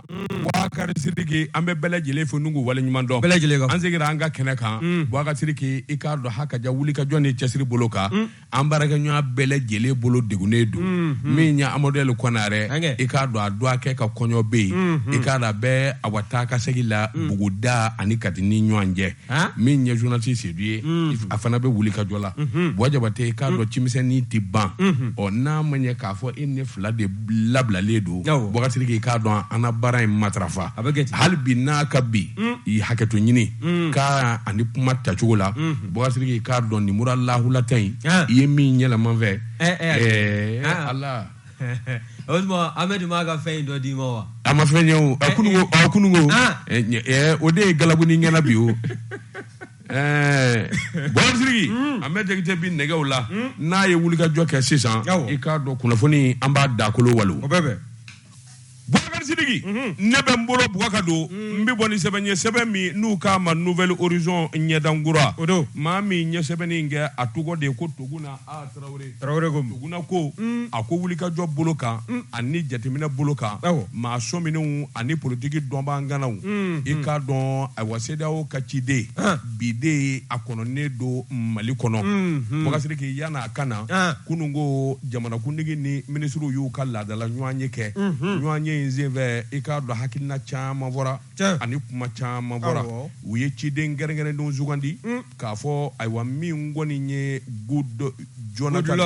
Bubakari Sidiki an bɛ bɛɛ lajɛlen fo ni k'u waleɲuman dɔn. Bɛɛ lajɛlen ka fɔ. An seginna an ka kɛnɛ kan. Mm. Bubakari Sidiki i k'a dɔn hakaja wulikajɔ ni cɛsiri bolo kan. Mm. An baarakɛɲɔgɔn bɛɛ lajɛlen bolo degunnen don. Mm, mm. Min ye Amadu Ɛl Konare. Ankɛ. I k'a dɔn a dɔgɔkɛ ka kɔɲɔ bɛ yen. I k'a dɔn a bɛ ayiwa taa ka segin la Buguda ani Kati ni ɲɔgɔn cɛ. min ye journaliste Sedu ye a fana bɛ wuli ka jɔ la Buwa Jabate i k'a dɔn ci misɛnnin tɛ ban ɔ n'a ma ɲɛ k'a fɔ e ni ne fila de labilalen don Bubakari Sidiki i k'a dɔn an na baara in matarafa hali bi nka n b'i hakɛto ɲini kan ani kuma tacogo la Bubakari Sidiki i k'a dɔn nin mura lahulata in i ye min yɛlɛma n fɛ ɛɛ Ala o tuma Amɛdi m'a ka fɛn in dɔ d'i ma wa a ma fɛn ye o a kunu ko a kunu ko Ah. ɛ, ɲɛ- ɛ, o de ye galabuni ɲɛna bi o ɛɛ Bubakari Sidiki an bɛ Jakite bi nɛgɛw la n'a ye wulikajɔ kɛ sisan Awɔ. i k'a dɔn kunnafoni an b'a dakolo walo o bɛɛ bɛn Bubakari Sidiki ne bɛ n bolo bugka don n bɛ bɔ ni sɛbɛn ye sɛbɛn min n'u k'a ma Nouvel Horizon ɲɛdan kura o don maa min ye sɛbɛnni kɛ a tɔgɔ de ye ko Toguna A Tarawele Tarawele ko Toguna ko a ko wulikajɔ bolo kan ani jateminɛ bolo kan maa sɔminenw ani politigi dɔnbaga ŋanaw i k'a dɔn ayiwa CEDEAO ka ciden bi de a kɔnɔnen don Mali kɔnɔ Bubakari Sidiki yann'a ka na kununko jamanakuntigi ni minisiriw y'u ka laadadala ɲɔgɔnye kɛ ɲɔgɔnye in senfɛ i k'a dɔn hakilina caman fɔra ani kuma caman fɔra u ye ciden kɛrɛnkɛrɛnnen sugandi k'a fɔ ayiwa min kɔni ye Jonathan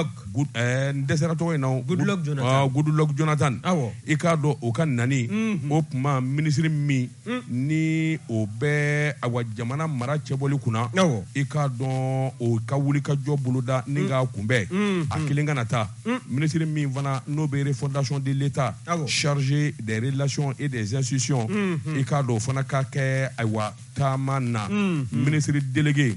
n dɛsɛra tɔgɔ in na Goodluck Jonathan i k'a dɔn o ka nani o tuma minisiri min ni o bɛ ayiwa jamana mara cɛbɔli kunna i k'a dɔn o ka wulikajɔ boloda ni k'a kunbɛn a kelen kana taa minisiriri min fana n'o bɛ refondation de l'État chargé des relations et des institutions i k'a dɔn o fana ka kɛ ayiwa taama na minisiriri delielege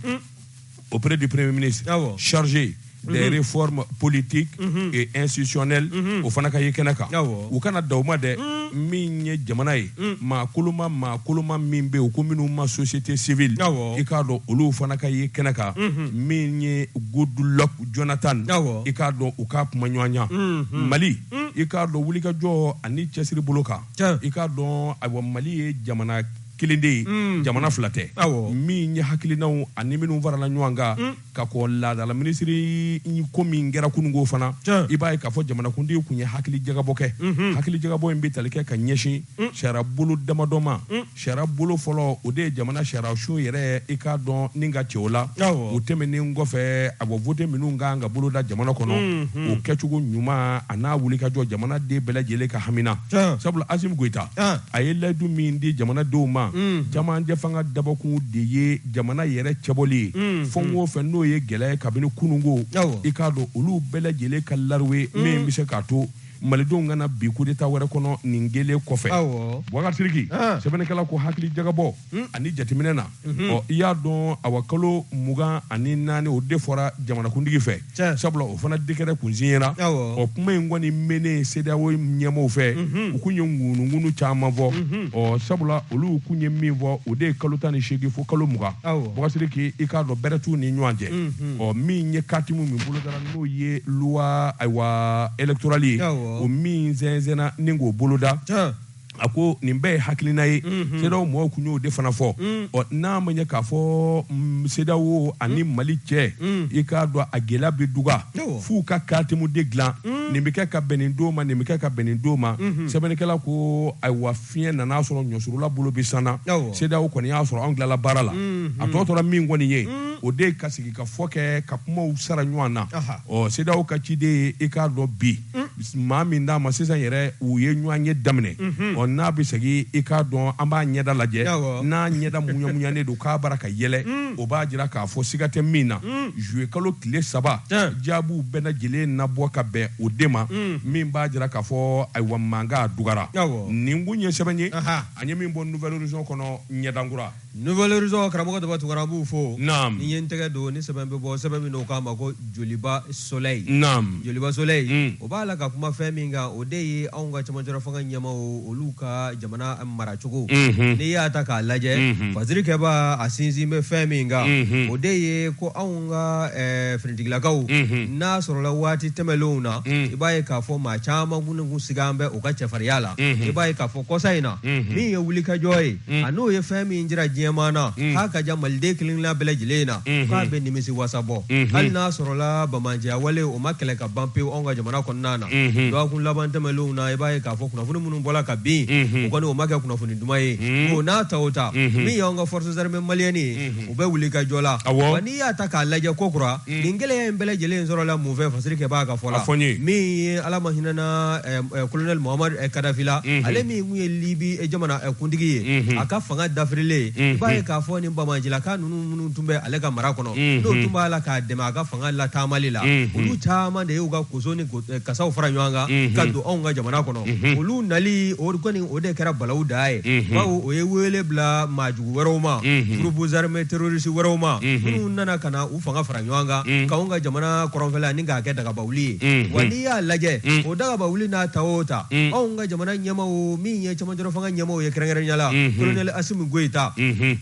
auprès du Premier ministre, ah chargé des mm-hmm. réformes politiques mm-hmm. et institutionnelles mm-hmm. o fana ka ye kɛnɛ kan ah u kana dan o ma dɛ mm. min ye jamana ye mm. maa koloma maa koloma min bɛ u ko minnu ma société civile ah i k'a dɔn olu fana ka ye kɛnɛ kan min ye Goodluck Jonathan ah i k'a dɔn u ka kumaɲɔgɔnya Mali mm. i k'a dɔn wulikajɔ ani cɛsiri bolo kan i k'a dɔn ayiwa Mali ye jamana kelen de ye mm. jamana fila tɛ min ye hakilinaw ani minnu farala ɲɔgɔn kan mm. ka kɔ laadala minisiri ko min kɛra kununko fana i b'a ye k'a fɔ jamanakuntigi tun ye hakili jagabɔ kɛ mm-hmm. hakili jagabɔ in bɛ tali kɛ ka ɲɛsin mm. sariya bolo damadɔ ma sariya bolo fɔlɔ o de ye jamana sariyasun yɛrɛ i k'a dɔn ni k'a cɛ o la o tɛmɛnen kɔfɛ ayiwa vote minnu kan ka boloda jamana kɔnɔ mm-hmm. o kɛcogo ɲuman a n'a wulikajɔ jamana den bɛɛ lajɛlen ka hamina sabula asimi goyita a ye layidu min di jamana denw ma jamajɛ fanga dabɔkun de ye jamana yɛrɛ cɛbɔli ye fɛn o fɛ n'o ye gɛlɛya kabini kununko i k'a dɔn olu bɛɛ lajɛlen ka lariwe min bɛ se k'a to malidenw kana bin kudeta wɛrɛ kɔnɔ nin kelen kɔfɛ bubakari sidiki sɛbɛnnikɛla ko hakili jagabɔ Hmm. ani jateminɛ na mhm. ɔ i y'a dɔn awa kalo mugan ani naani o de fɔra jamanakuntigi fɛ sabula o fana dekɛrɛ kun siɲɛra ɔ kuma in kɔni mɛnnen sedeyawo ɲɛmɔgɔw fɛ mhm. u kun ye ŋunuŋunu caman fɔ mhm. ɔ sabula olu kun ye min fɔ o de ye kalo tan ni seegin fo kalo mugan bubakari sidiki i k'a dɔn bɛrɛ t'u ni ɲɔgɔn cɛ ɔ min ye katimu min bolodara n'o ye luwa ayiwa elektorali ye o min sɛnsɛnna ni k'o boloda a ko nin bɛɛ ye hakilina ye sedawo mɔgɔw kun y'o de fana fɔ ɔ n'a ma ɲɛ k'a fɔ mm, sedawo ani mali cɛ i k'a dɔn a gɛlɛya bɛ duga Awɔ. f'u ka katimu de dilan nin bɛ kɛ ka bɛn nin don ma nin bɛ kɛ ka bɛn nin don ma sɛbɛnnikɛla ko ayiwa fiɲɛ nan'a sɔrɔ ɲɔsurula bolo bɛ sanna Awɔ. sedawo kɔni y'a sɔrɔ anw tilala baara la a tɔ tora min kɔni ye o de ye ka sigikafɔ kɛ ka kumaw sara ɲɔgɔn na Aha. ɔ sedawo ka ciden ye i k'a dɔn bi maa min d'a ma sisan yɛrɛ u ye ɲɔgɔnye daminɛ ɔ n'a bɛ segin i k'a dɔn an b'a ɲɛda lajɛ n'a ɲɛda muɲamuɲanen don k'a bara ka yɛlɛ o b'a jira k'a fɔ siga tɛ min na zuye kalo tile saba jaabiw bɛɛ lajɛlen na bɔ ka bɛn o de ma min b'a jira k'a fɔ ayiwa mankan dugara nin kun ye sɛbɛn ye an ye min bɔ nouvelle horizon kɔnɔ ɲɛdankura Nouvelle-horizon karamɔgɔ Daba Tunkara an b'u fo. Naamu. Ni n ye n tɛgɛ don ni sɛbɛn bɛ bɔ sɛbɛn min n'o k'a ma ko Joliba Soleil. Naamu. Joliba Soleil. Un. O b'a la ka kuma fɛn min kan, o de ye anw ka cɛmancɛlafanga ɲɛmaaw olu ka jamana maracogo. Unhun. N'i y'a ta k'a lajɛ. Unhun. Fasirikɛbaa a sinsin bɛ fɛn min kan. Unhun. O de ye ko anw ka ɛɛ finitigilakaw. Unhun. N'a sɔrɔla waati tɛmɛlenw na. Un. I b'a ye k'a fɔ maa caman kun siganen bɛ u ka cɛfarinya la. Unhun. I b'a ye k'a fɔ kɔsa in na. Unhun. Min ye wulikajɔ ye. a n'o ye fɛn min jira diɲɛmaa na k'a ka ja maliden kelen-kelenna bɛɛ lajɛlen na k'a bɛ nimisi wasa bɔ hali n'a sɔrɔla banbaanciya wale o ma kɛlɛ ka ban pewu anw ka jamana kɔnɔna na dɔgɔkun laban tɛmɛnlenw na i b'a ye k'a fɔ kunnafoni minnu bɔra ka bin o kɔni o ma kɛ kunnafoni duman ye o n'a ta o ta min y'anw ka forces armées maliennes ye u bɛ wulikajɔ la wa n'i y'a ta k'a lajɛ ko kura mm. nin gɛlɛya in bɛɛ lajɛlen sɔrɔla mun fɛ fasirikɛbaa ka fɔ la min ye ala ma hinɛna eh, eh, kolonɛli mahamadu eh, kadafi la mm-hmm. ale min tun ye libi jamana kuntigi ye mm-hmm. a ka fanga dafirilen ye mm-hmm. i b'a ye k'a fɔ nin banbaancilaka ninnu minnu tun bɛ ale ka mara kɔnɔ n'o tun b'a la k'a dɛmɛ a ka fanga lataamali la olu caman de y'u ka koso ni kasaw fara ɲɔgɔn kan ka don anw ka jamana kɔnɔ olu nali o kɔni o de kɛra balawu da ye bawo o ye wele bila maaju wɛrɛw ma groupe armé terroriste wɛrɛw ma minnu nana ka na u fanga fara ɲɔgɔn kan k'anw ka jamana kɔrɔnfɛla ani k'a kɛ dagabawuli ye wa n'i y'a lajɛ o dagabawuli n'a ta o ta anw ka jamana ɲɛmaaw min ye cɛmancɛla fanga ɲɛmaaw ye kɛrɛnkɛrɛnnenya la colonel Asimi Goyita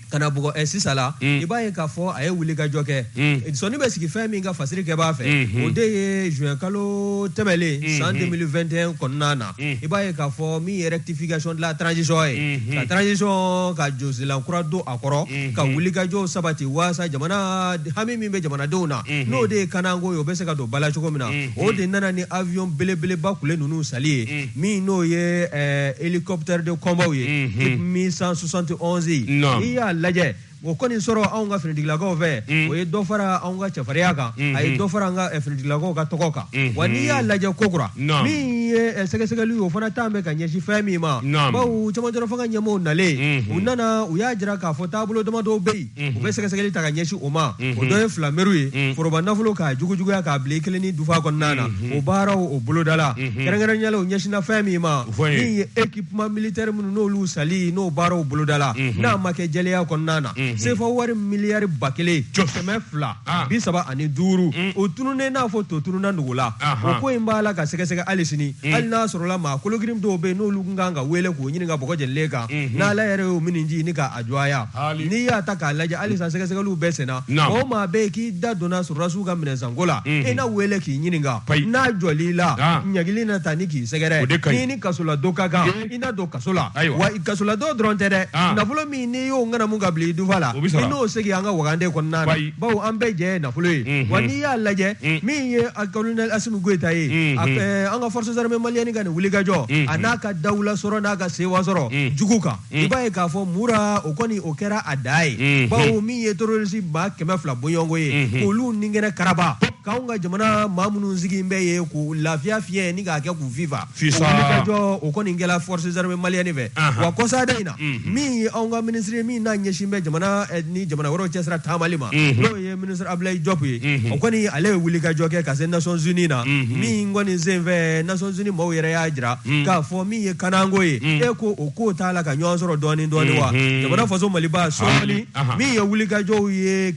ka na bugɔ sisan la i b'a ye k'a fɔ a ye wulikajɔ kɛ sɔnni bɛ sigi fɛn min kan fasiri kɛbaa fɛ o de ye juin kalo tɛmɛlen san 2021 kɔnɔna na Mm. i b'a ye k'a fɔ min ye rectification de la transition ye mm-hmm. ka transition ka josilan kura don a kɔrɔ mm-hmm. ka wulikajɔw sabati waasa jamana hami min bɛ jamanadenw na mm-hmm. n'o de ye kananko ye o bɛ se ka don bala cogo min na o de nana ni avion belebeleba kule ninnu sali ye mm. min n'o ye eh, hélicoptère de combat ye mi 171 ye n'i y'a lajɛ O kɔni sɔrɔ anw ka finitigilakaw fɛ mm. o ye dɔ fara anw ka cɛfarinya kan mm-hmm. a ye dɔ fara an ka eh, finitigilakaw ka tɔgɔ kan mm-hmm. wa n'i y'a lajɛ kokura min ye eh, sɛgɛsɛgɛli o fana tan bɛ ka ɲɛsin fɛn min ma bawo cɛmancɛla fanga ɲɛmaaw nalen mm-hmm. u nana u y'a jira k'a fɔ taabolo damadɔw bɛ yen u bɛ sɛgɛsɛgɛli ta ka ɲɛsin o ma o dɔ ye filameriw ye mm. foroba nafolo k'a jugujuguya k'a bila i kelen ni dufa kɔnɔna na o baaraw o bolodala kɛrɛnkɛrɛnnenya la o ɲɛsinna fɛn min ma min ye équipement militaire minnu n'olu sali n'o baaraw bolodala mhm. n'a ma kɛ jɛlenya kɔnɔna na mhm. sefa wari miliyari ba kelen kɛmɛ fila ah. bi saba ani duuru mm. o tununnen n'a fɔ to tununna nugu la o ko in b'a la ka sɛgɛsɛgɛ hali sini mm. hali n'a sɔrɔla maa kologirin dɔw bɛ yen n'olu kan ka wele k'o ɲininka bɔgɔ jɛlen kan mhm. n'Ala yɛrɛ y'o miniji ɲini ka jɔya n'i y'a ta k'a lajɛ halisa sɛgɛsɛgɛliw bɛ senna o maa bɛ yen k'i da donna sɔrɔdasiw ka minɛnsanko la mhm. i na wele k'i ɲininka n'a jɔl'i la ɲangili na ta ni k'i sɛgɛrɛ n'i ni kasoladon ka kan i na don kaso la wa kasoladon dɔrɔn tɛ dɛ nafolo min n'i y'o ŋanamu ka bila i dufa la i n'o segin an ka wagande kɔnɔna na bawo an bɛɛ jɛ ye nafolo ye mhm. wa n'i y'a lajɛ mhm. min ye colonel Asimi Goyita ye an ka forces armées maliennes ka nin wulikajɔ a n'a ka dawulasɔrɔ n'a ka sewa sɔrɔ jugu kan Mm. i b'a ye k'a fɔ Mura o kɔni o kɛra a da ye mm-hmm. bawo min ye terorisi maa kɛmɛ fila bɔɲɔgɔnko ye mm-hmm. k'olu nikɛnɛ karaba k'anw ka jamana maa minnu sigin bɛ yen k'u lafiya fiɲɛ ni k'a kɛ k'u fifa wulikajɔ o kɔni kɛla force armée malienne fɛ uh-huh. wa kɔsada in na mm-hmm. min ye anw ka minisiri min n'a ɲɛsin bɛ jamana eh, ni jamana wɛrɛw cɛsira taamali ma n'o ye Minisiri Abudulayi Jɔpu ye, unhun, o kɔni ale ye wulikajɔ kɛ ka se Nations Unies na, unhun, min kɔni senfɛ Nations Unies maaw yɛrɛ y'a jira k'a fɔ min ye kananko ye, e ko o ko taala ka nɔgɔya sɔrɔ dɔɔnin dɔɔnin wa jamana faso Maliba sɔɔni min ye wulikajɔw ye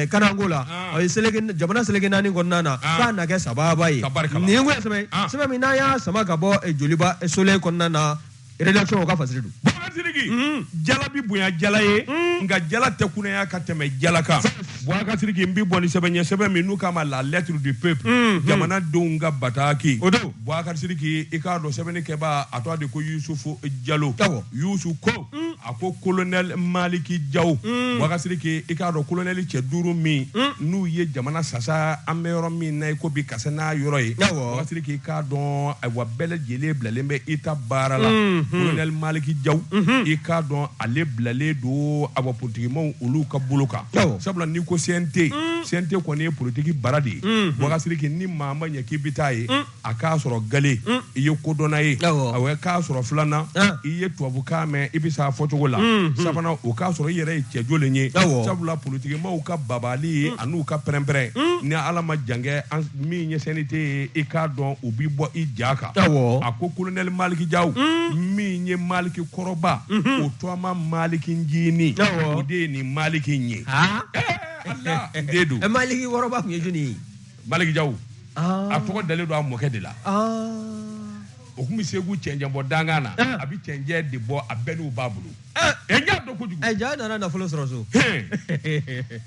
kananko la, o ye seleke jamana seleke naani kɔnɔna na k'a na kɛ sabaaba ye, nin ye min ye sɛbɛn sɛbɛn min n'an y'a sama ka bɔ Joliba Soleil kɔnɔna na rédaction o ka fasiri don Bubakari Sidiki mm. jala bi bonya jala ye mm. nka jala tɛ kunaya ka tɛmɛ jala kan Bubakari Sidiki n bi bɔ ni sɛbɛn ye sɛbɛn min n'u k'a ma la lettre du peuple mm, jamanadenw ka bataki o don Bubakari Sidiki i k'a dɔn sɛbɛnni kɛbaa a tɔgɔ de ko Yusufu Jalo Yusu ko ko kolonɛli maliki jaw mm. bubakari sidiki i k'a dɔn kolonɛli cɛ duuru min mm. n'u ye jamana sasa an bɛ yɔrɔ min na i ko bi kasa n'a yɔrɔ ye bubakari sidiki i k'a dɔn ayiwa bɛɛ lajɛlen bilalen bɛ eta baara la mm-hmm. kolonɛli maliki jaw mm-hmm. i k'a dɔn ale bilalen don ayiwa politikimaw olu ka bolo kan sabula n'i ko CNT CNT mm. kɔni ye politiki bara de ye bubakari sidiki ni maa ma ɲɛ k'i bi taa ye a k'a sɔrɔ gale mm. i ye kodɔnna ye awɔ k'a sɔrɔ filanan ah. i ye tubabukan mɛn i bɛ s'a fɔcogo la mm, mm. sabanan o k'a sɔrɔ i yɛrɛ ye cɛjɔlen ye sabula politikimaaw ka babali ye an'u ka pɛrɛnpɛrɛn ni ala ma jankɛ min ye CNT ye i k'a dɔn u b'i bɔ i ja kan a ko kolonɛli maliki jaw min ye maliki kɔrɔba mm-hmm. o tɔgɔma maliki njiini o de ye nin maliki in ye ah. eh, eh, eh, maliki kɔrɔba kun ye jɔni ye Maliki jaw a tɔgɔ dalen don a mɔkɛ de la o kun bɛ segu cɛncɛnbɔ dankan na a bɛ cɛncɛn de bɔ a bɛniw b'a bolo i k'a dɔn kojugu jaw nana nafolo sɔrɔ so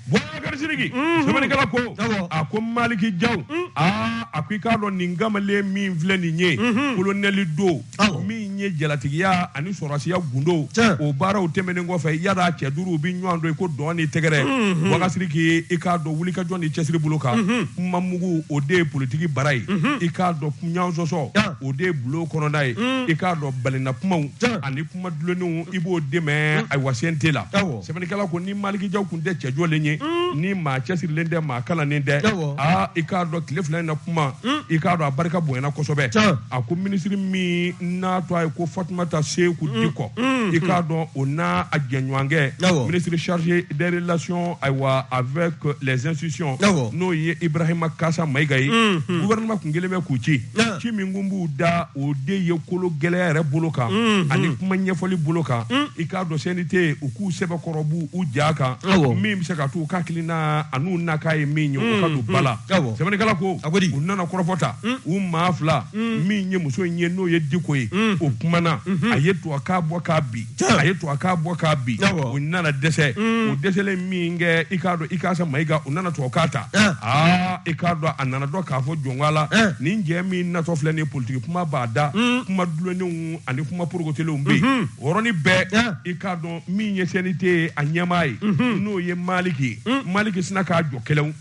bubakari sidiki sɛbɛnnikɛla ko a ko maliki jaw a ko i k'a dɔn nin kamalen min filɛ nin ye kolonɛli don min ye jalatigiya ani sɔrasiya gundo o baaraw tɛmɛnen kɔfɛ yala cɛ duuru bɛ ɲɔgɔn dɔn i ko dɔn ni tɛgɛrɛ mhm. bubakari sidiki i k'a dɔn wulikajɔ ni cɛsiri bolo kan mhm. kuma mugu o de ye politiki bara ye mhm. i k'a dɔn ɲɔgɔn sɔsɔ o de ye bulon kɔnɔna ye i k'a dɔn balina kumaw ani kuma dulonnenw i b'o de mɛn ayiwa CNT la sɛbɛnnikɛla ko ni maliki jaw kun tɛ cɛjɔlen ye ni maa cɛsirilen tɛ maa kalannen tɛ aa i k'a dɔn tile fila in na kuma i k'a dɔn a barika bonyana kosɛbɛ a ko minisiri min n'a tɔgɔ ye ko fatumata seku diko i k'a dɔn o n'a a jɛɲɔgɔnkɛ minisiri chargé des relations ayiwa avec les institutions n'o ye ibrahima ikasa mayiga ye gouvernement kun kɛlen bɛ k'u ci Nka. ci min kun b'u da o de ye kolo gɛlɛya yɛrɛ bolo kan ani kuma ɲɛfɔli bolo kan i k'a dɔn CNT u k'u sɛbɛkɔrɔ bɔ u ja kan Awɔ. min bɛ se ka to u ka hakilina an'u nakan ye min ye o ka don ba la Awɔ. sɛbɛnnikɛla ko A ko di? u nana kɔrɔfɔ ta u maa fila min ye muso in ye n'o ye Diko ye o kumana a ye to a k'a bɔ k'a bin a ye to a k'a bɔ k'a bin o nana dɛsɛ o dɛsɛlen min kɛ i k'a dɔn ikasa mayiga o nana to a k'a ta aa i k'a dɔn a nana dɔn k'a fɔ jɔnka la nin cɛ min natɔ filɛ nin politiki kuma b'a da kuma dulonnenw ani kuma porokotelenw bɛ yen o yɔrɔnin bɛɛ i k'a dɔn min ye CNT a ɲɛmaa ye n'o ye maliki ye maliki sinna k'a jɔ kɛlɛ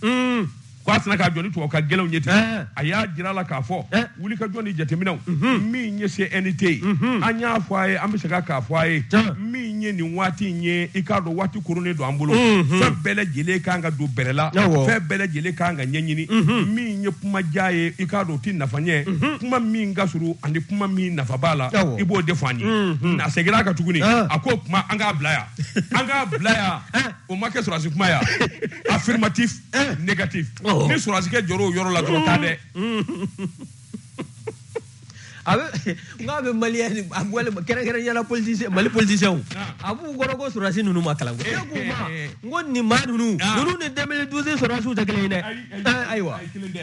ko a sina k'a jɔ ni tubabukan gɛlɛnw ye ten Ɛɛ. a y'a jira a la k'a fɔ Ɛɛ. wulikajɔ ni jateminɛw min ye CNT ye an y'a fɔ a ye an bɛ segin a k'a fɔ a ye Tiɲɛ. min ye nin waati in ye i k'a dɔn waati koronnen don an bolo fɛn bɛɛ lajɛlen kan ka don bɛrɛ la Awɔ. fɛn bɛɛ lajɛlen kan ka ɲɛɲini min ye kuma jan ye i k'a dɔn o tɛ nafa ɲɛ kuma min ka surun ani kuma min nafa b'a la Awɔ. i b'o de fɔ an ye a seginna a kan tuguni Ah. a ko kuma an k'a bila yan an k'a bila yan o ma kɛ sɔrɔdasi kuma yan affirmatif eh. négatif oh. ni sɔrɔsikɛ jɔr'o yɔrɔ la dɔrɔn t'a dɛ a bɛ n k'a bɛ maliyɛn ni a walima kɛrɛnkɛrɛnnenya la politisiyɛn mali politisiyɛnw ah. a b'u kɔnɔ ko sɔrɔdasi ninnu ma kalan ko ne k'u ma n ko nin maa ninnu ninnu ni 2012 sɔrɔdasiw tɛ kelen ye dɛ ayiwa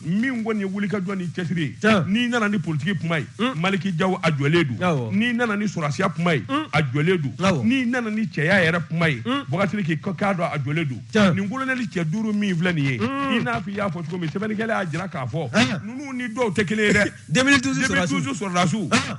min kɔni ye wulikajɔ ni cɛsiri ye Tiɲɛ. n'i nana ni politiki kuma ye maliki jaw a jɔlen don Awɔ. n'i nana ni sɔrɔsiya kuma ye a jɔlen don Awɔ. n'i nana ni cɛya yɛrɛ kuma ye bubakari sidiki k'a dɔn a jɔlen don Tiɲɛ. nin kolonɛli cɛ duuru min filɛ nin ye i n'a fɔ i y'a fɔ cogo min sɛbɛnnikɛla y'a jira k'a fɔ Ɛɛ. ninnu ni dɔw tɛ kelen ye dɛ 2012 sɔrɔdasiw. 2012 sɔrɔdasiw Ah.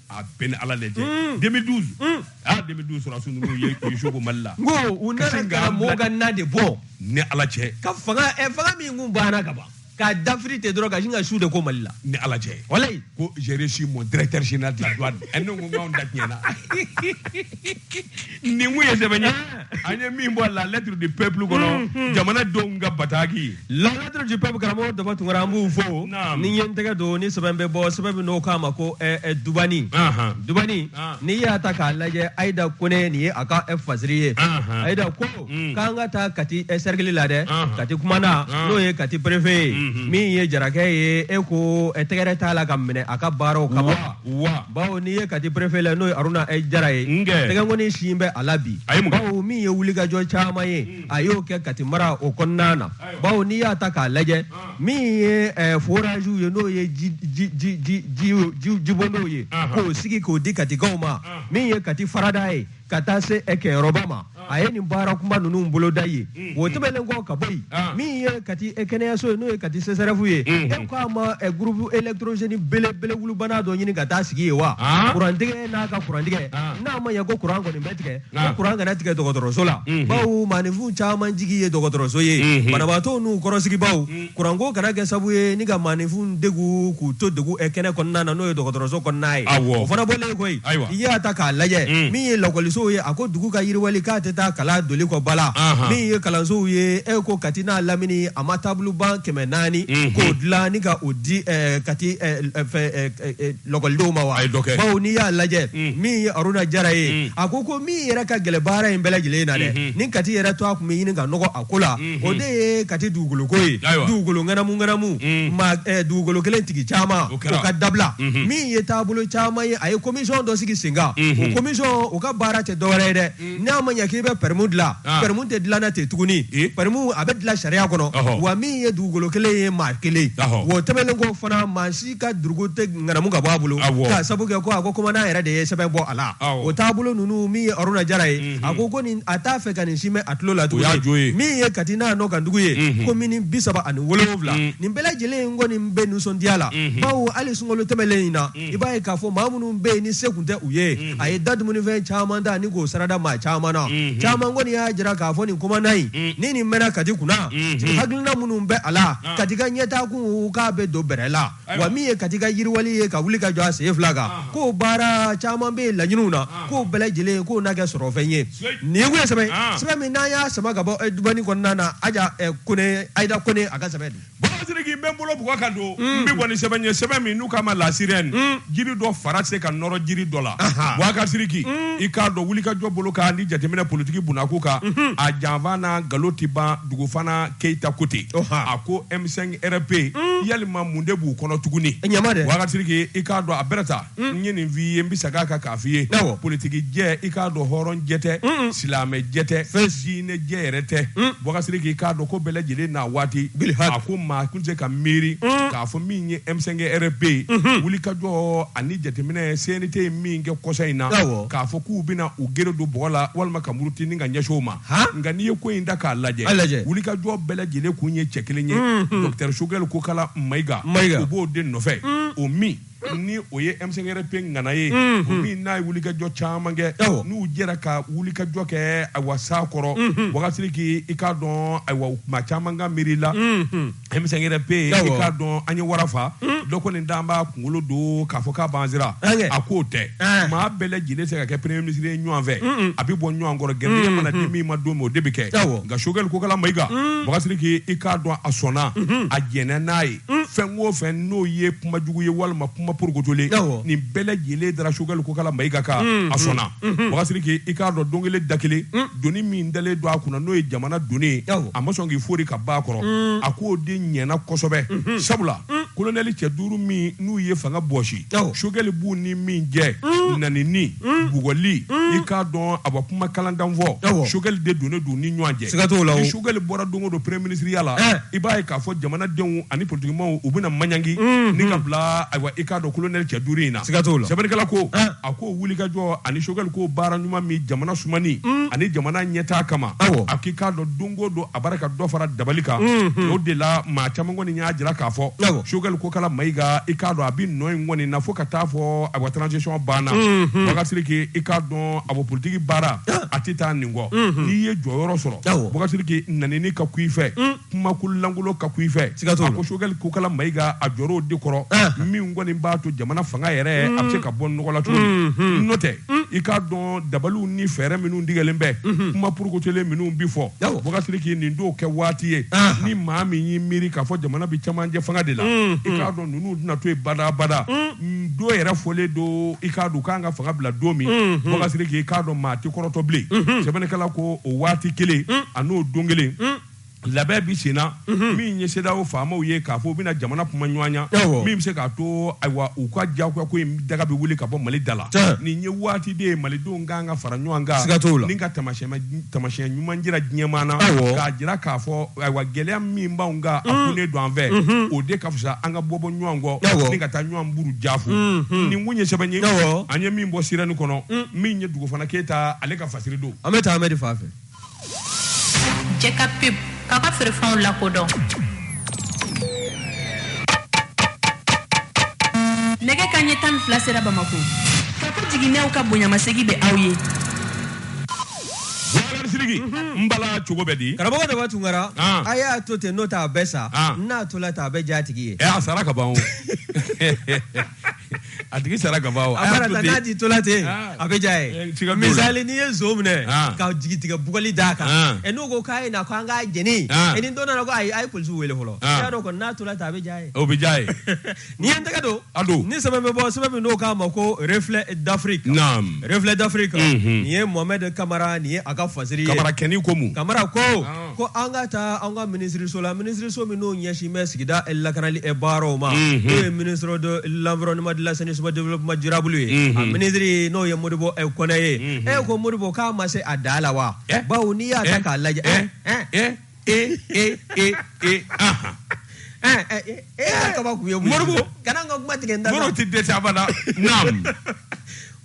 a bɛ n ni ala cɛ mm. 2012 mm. ah 2012 sɔrɔdasi ninnu ye u ye su ko mali la n ko u nana ka mɔgɔw ka na de bɔ ni ala cɛ ka fanga ɛ eh, fanga min kun banna ka ban k'a dafiri ten dɔrɔn ka sin ka su de ko mali la ni ala cɛ walayi ko j'ai reçu mon directeur général de la douane ɛ ne ko n k'anw da tiɲɛna nin tun ye sɛbɛn ye an ye min bɔ la lettre du peuple kɔnɔ jamana denw ka bataki la lettre du peuple karamɔgɔ daba tunkara an b'u fo ne ye n tɛgɛ don ni sɛbɛn bɛ bɔ sɛbɛn min n'u k'a ma ko eh, eh, dubani dubani n'i y'a ta k'a lajɛ ayida kone nin ye a ka eh, fasiri ye ayida ko mm. k'an ka taa kati sɛrikili la dɛ kati kumandan n'o ye kati perefe ye mm-hmm. min ye jarakɛ ye e ko tɛgɛrɛ t'a la ka minɛ a ka baaraw kama wa bawo n'i ye kati perefe la n'o ye aruna e jara ye tɛgɛkɔni sin bɛ a la bi bawo min ye wulikajɔ caman ye hmm. a y'o kɛ kati mara o kɔnɔna na bawo n'i y'a ta k'a lajɛ ah. min ye eh, forasiw ye n'o ye jibondonw ye ah, ah. k'o sigi k'o di katikaw ma min ye kati farada ye ka taa se ɛ kɛyɔrɔba ma a ye nin baara kunba ninnu boloda ye o tɛmɛnen kɔ ka bɔ yen min ye kati ɛ kɛnɛyaso ye n'o ye kati sɛsɛrɛfu ye e ko a ma ɛ gurupu elektorozeni belebelewulubana dɔ ɲini ka taa sigi yen wa kurantigɛ n'a ka kurantigɛ n'a ma ɲɛ ko kuran kɔni bɛ tigɛ ko kuran kana tigɛ dɔgɔtɔrɔso la bawo maaninfin caman jigi ye dɔgɔtɔrɔso ye banabaatɔ n'u kɔrɔsigibaw kuranko kana kɛ sabu ye ni ka maaninfin degu k'u to degu ɛ, kɛnɛ kɔnɔna na n'o ye dɔgɔtɔrɔso kɔnɔna ye Awɔ. o fana bɔlen koyi Ayiwa. i y'a ta k'a lajɛ Mm. min ye lakɔlisow ye a ko dugu ka yiriwali k'a tɛ taa kalan doli kɔ abada Ahan. min ye kalansow ye e ko kati n'a lamini a ma table-banc kɛmɛ naani Mhm. k'o dilan ni ka o di ɛ, kati ɛ, ɛ, fɛ, ɛ, ɛ, ɛ, lakɔlidenw ma wa A ye dɔ kɛ. bawo n'i y'a lajɛ Mm. min ye aruna jara ye Mm. a ko ko min yɛrɛ ka gɛlɛn baara in bɛɛ lajɛlen na dɛ Mhm. ni kati yɛrɛ tɔgɔ a tun bɛ ɲini ka nɔgɔ a ko la o de ye kati dugukoloko ye dugukolo ŋanamuŋanamu eh, dugukolo kelen tigi caman o ka dabila min ye taabolo caman ye a ye komisɔn dɔ sigi sen kan o komisɔn o ka baara tɛ dɔwɛrɛ ye dɛ n'a ma ɲɛ k'i bɛ pɛrɛmu dilan ah. pɛrɛmu tɛ dilanna ten tuguni pɛrɛmu a bɛ dilan sariya kɔnɔ wa min ye dugukolo kelen ye maa kelen o tɛmɛnen kɔ fana maa si ka dugu tɛ ŋanamu ka bɔ a bolo Awɔ. k'a sabu kɛ ko a ko komandan yɛrɛ de ye sɛbɛn bɔ a la Awɔ. o taabolo ninnu min ye aruna jara ye a ko ko nin a t'a fɛ ka nin si mɛn a tulo la y'a jo ye. tuguni min ye kati n'a nɔ kan dugu ye komini bi saba ani wolonwula nin bɛɛ lajɛlen in kɔni bɛ nisɔndiya la bawo hali sunkalo tɛmɛlen in na i b'a ye k'a fɔ maa minnu bɛ yen ni se kun tɛ u ye a ye da dumunifɛn caman ta ni k'o sarada maa caman na caman kɔni y'a jira k'a fɔ nin komandan in ni nin mɛnna kati kunna hakilina minnu bɛ a la kati ka ɲɛtaakun k'a bɛ don bɛrɛ la wa min ye kati ka yiriwali ye ka wuli ka jɔ a sen fila kan k'o baara caman bɛ laɲiniw na k'o bɛɛ lajɛlen k'o na kɛ sɔrɔfɛn ye nin ye sɛbɛn sɛbɛn min n'an y'a sama ka bɔ dɔnni kɔnɔna na kone ayida kone a ka sɛbɛn siriki n bɛ n bolo b ka don n bɛ bɔ ni sɛbɛn ye sɛbɛn min n'u k'a ma la sirène jiri dɔ fara se ka nɔrɔ jiri dɔ la bubakari siriki i k'a dɔn wuli ka jɔ bolo kan ni jateminɛ politiki bkuu kan a janfa n'a nkalon tɛ ban dugufana keyita ko ten a ko M5 RP hmm. yalima mun de b'u kɔnɔ tuguni bubakari siriki i k'a dɔn a bɛrɛ ta hmm. n ye nin f'i ye n bɛ segin a kan k'a f'i ye politiki jɛ i k'a dɔn hɔrɔn jɛ tɛ hmm. silamɛ jɛ tɛ fɛn diinɛ jɛ yɛrɛ tɛ bubakari siriki i k'a dɔn ko bɛɛ lajɛlen n'a waati a ko maa kun tɛ ka miiri k'a fɔ min ye M5 RP ye wuli ka jɔ ani jateminɛ CNT ye min kɛ kɔsa in na k'a fɔ k'u bɛna u gere don bɔgɔ la walima ka muruti ni ka ɲɛsin o ma nka n'i ye ko in da k'a lajɛ wuli ka jɔ bɛɛ lajɛlen kun ye cɛ kelen ye dɔtɛri sogɛli kokala mayiga mayiga u b'o de nɔfɛ o min ni o ye M5 RP ŋana ye min n'a ye wuli kajɔ caman kɛ n'u jɛra ka wuli kajɔ kɛ awa sa kɔrɔ bubakari siriki i k'a dɔn ayiwa maa caman ka miiri la M5 RP Awɔ. i k'a dɔn an ye wara fa dɔ ko nin dan b'a kunkolo don k'a fɔ k'a b'an siran Ɛnkɛ. a k'o tɛ Ɛɛ. maa bɛɛ lajɛlen tɛ se ka kɛ premier ministre ye ɲɔgɔn fɛ a bɛ bɔ ɲɔgɔn kɔrɔ gɛrijɛgɛ mana di min ma don min o de bɛ kɛ Awɔ. nka sogɛli kokala mayiga bubakari siriki i k'a dɔn a sɔnna a jɛnna n'a ye fɛn o fɛn n'o ye kuma jugu ye walima kuma porokotolen Awɔ. nin bɛɛ lajɛlen dara sogɛli kokala mayiga kan a sɔnna bubakari siriki i k'a dɔn don kelen da kelen doni min dalen don a kunna n'o ye jamana doni a ma sɔn k'i foori ka b'a kɔrɔ mm. a k'o de ɲɛna kosɛbɛ mm-hmm. sabula mm. kolonɛli cɛ duuru min n'u ye fanga bɔsi sogɛli b'u ni min jɛ mm. nanini bugɔli i k'a dɔn a bɛ kuma kalan dan fɔ sogɛli de donnen don ni ɲɔgɔn cɛ ni sogɛli bɔra don o don premier minisiriya la eh. i b'a ye k'a fɔ jamanadenw ani politikimaw u bɛna maɲangi ni ka bila ayiwa i k'a dɔn kolonɛli cɛ duuru in na sɛbɛnnikɛla ko eh. a ko wulikajɔ ani Choguel ko baara ɲuman min jamana sumani mm. ani jamana ɲɛtaa kama a k'i k'a dɔn don o don a b'a ra ka dɔ fara dabali kan mm-hmm. o de la maa caman kɔni y'a jira k'a fɔ Choguel Kokala Mayiga i k'a dɔn a bɛ nɔ in kɔni na fo ka taa fɔ a ka transition banna mm-hmm. Boubacar Sidiki i k'a dɔn a bon politiki baara a tɛ taa nin kɔ mm-hmm. n'i ye jɔyɔrɔ sɔrɔ Boubacar Sidiki nɛnini ka kun i fɛ mm. kumakolon lankolon ka kun i fɛ Siga t'o la. a ko Choguel Kokala Mayiga a jɔr'o de kɔrɔ Ahan. min kɔni b'a to jamana fanga yɛrɛ a bɛ se ka bɔ nɔgɔ la cogo min n'o tɛ i k'a dɔn dabaliw ni fɛɛrɛ minnu tigɛlen bɛ kuma purukotolen minnu bi fɔ Awɔ. Boubacar Sidiki nin t'o kɛ waati ye Ahan. ni maa min y'i miiri k'a fɔ jamana bɛ camancɛ fanga de la i k'a dɔn ninnu tɛna to yen badabada N don yɛrɛ fɔlen don i k'a dɔn u ka kan ka fanga bila don min Boubacar Sidiki i k'a dɔn maa tɛ kɔrɔtɔ bilen sɛbɛnnikɛla ko o waati kelen a n'o don kelen labɛn bi senna mhm. min ye CEDEAO faamaw ye k'a fɔ u bɛna jamana kuma ɲɔgɔnya min bɛ se k'a to ayiwa u ka diyagoya ko in daga bɛ wuli ka bɔ Mali da la nin ye waati de ye malidenw ka kan ka fara ɲɔgɔn kan siga t'o la ni ka taamasiyɛn ɲuman jira diɲɛmaa na k'a jira k'a fɔ ayiwa gɛlɛya min b'anw kan a mm. kunnen don an fɛ mm-hmm. o de ka fisa an ka bɔ bɔ ɲɔgɔn kɔ ni ka taa ɲɔgɔn buruja fu mm-hmm. nin kun ye sɛbɛn ye an ye min bɔ Sirène kɔnɔ mm. min ye Dugufana Keyita ale ka fasiri don an bɛ taa Ahmɛdi fan fɛ Jɛka pub k'a ka feerefɛnw lakodɔn nɛgɛ kanɲɛ tan ni fila sera Bamakɔ Kafo Jiginɛw ka bonyamasegin bɛ aw ye Sidiki n bala cogo bɛ di karamɔgɔ Daba Tunkara ah. a y'a to ten n'o tɛ a bɛ sa ah. n'a tola ten a bɛ diy'a tigi ye eh, a sara ka ban o a tigi sara ka ban wa? a mana taa n'a tigi tola ten ah. a bɛ diya ye eh, misali n'i ye nson minɛ ah. ka jigi tigɛ bugɔli d'a kan ah. ɛ n'u ko k'a ye na ko an k'a jeni ɛ ni dɔ nana ko ayi a ye polisiw wele fɔlɔ i y'a dɔn kɔni n'a tola ten a bɛ diya ye o bɛ diya ye n'i ye n tɛgɛ don a don ni sɛbɛn bɛ bɔ sɛbɛn min n'o k'a ma ko reflet d'Afrique naam reflet d'Afrique mhm. nin ye Mohamed Kamara nin ye a ka fasiri ye Kamarakɛ nin ko mun Kamara ko ko an ka taa an ka minisiriso la minisiriso min n'o ɲɛsin bɛ sigida lakanali baaraw ma n'o ye ministre de l'environnement de l'assainissement développement durable ye a minisiri n'o ye Modibo Kɔnɛ ye e ko Modibo k'a ma se a da la wa bawo n'i y'a ta k'a lajɛ e e e e e kaba tun ye Modibo kana n ka kuma tigɛ tɛ dɛsɛ sa naam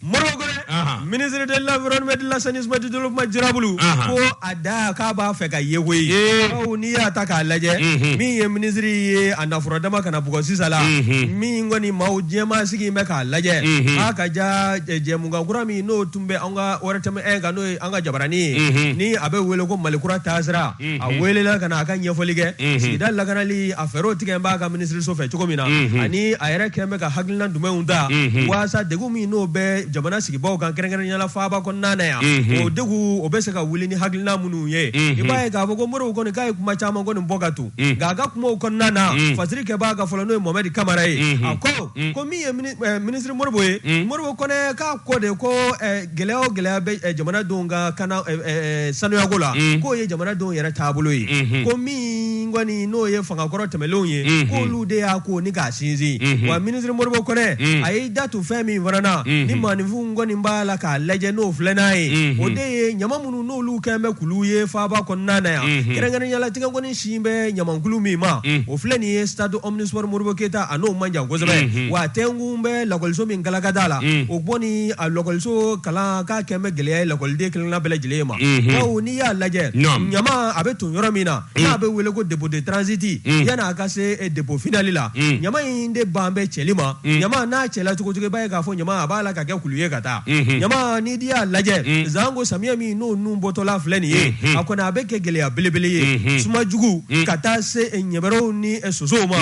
Modibo Kɔnɛ Ahan. ministre de l'environnement de l'assainissement du développement durable Ahan. ko a da k'a b'a fɛ ka ye koyi Ye. bawo n'i y'a ta k'a lajɛ Mhm. min ye minisiri ye a nafolo dama kana bugɔ sisan la Mhm. min kɔni maa caman sigilen bɛ k'a lajɛ Mhm. a ka ja jɛ- jɛmukan kura min n'o tun bɛ an ka ORTM 1 kan n'o ye an ka jabarani ye Mhm. ni a bɛ wele ko Malikura taasira a Mhm. welela ka na a ka ɲɛfɔli kɛ Mhm. sigida lakanali a fɛɛrɛw tigɛlen b'a ka minisiriso fɛ cogo min na Mhm. ani a yɛrɛ kɛn bɛ ka hakilina jumɛnw ta Unhun. walasa degun min n'o bɛ jamana sigibaaw kan kɛrɛnkɛrɛnnenya la faaba kɔnɔna na yan Unhun. o degun o bɛ se ka wuli ni hakilina minnu ye Unhun. i b'a ye k'a fɔ ko modibo kɔni k'a ye kuma caman kɔni bɔ ka to Mm. nka a ka kumaw kɔnɔna na Mm. fasiri kɛbaa ka fɔ la n'o ye mohamɛdi kamara ye Unhun. a ko Mm. ko min ye mini- eh, minisiri modibo ye Mm. modibo kɔnɛ k'a ko de ko eh, gɛlɛya o gɛlɛya bɛ eh, jamanadenw ka kana eh, eh, sanuyako la Mm. k'o ye jamanadenw yɛrɛ taabolo ye Unhun. ko min min kɔni n'o ye fangakɔrɔ tɛmɛnlenw ye Unhun. k'olu de y'a ko ni k'a sinsin Unhun. wa minisiri modibo kɔnɛ Mm. a y'i da tu fɛn min fana na Mhm. ni maaninfinw kɔni b'a la k'a lajɛ n'o filɛ n'a ye Mhm. o de ye ɲama minnu n'olu kɛn bɛ kulu ye faaba kɔnɔna na yan Mhm. kɛrɛnkɛrɛnnenya la tɛgɛkɔni sin bɛ ɲamankulu min ma Mm. o filɛ nin ye stade omnisport modibo keyita a n'o man jan kosɛbɛ Mhm. wa tɛnkun bɛ lakɔliso min galaka da la Mm. o bɔ ni a lakɔliso kalan k'a kɛn bɛ gɛlɛya ye lakɔliden kelenna bɛɛ lajɛlen ma Mhm. bawo ni n'i y'a lajɛ Naam. ɲama a bɛ ton yɔrɔ min na n'a bɛ wele ko dépôt de transit yanni a ka se eh, dépôt finali la ɲama in de ban bɛ cɛli ma ɲama n'a cɛla cogo o cogo i b'a ye k'a fɔ ɲama a b'a la ka kɛ kulu ye ka taa ɲama n'i di y'a lajɛ janko samiyɛ min n'o nun bɔtɔla filɛ nin ye a kɔni a bɛ kɛ gɛlɛya belebele ye suma jugu ka taa se eh, ɲɛbɛrɛw ni eh, sosow ma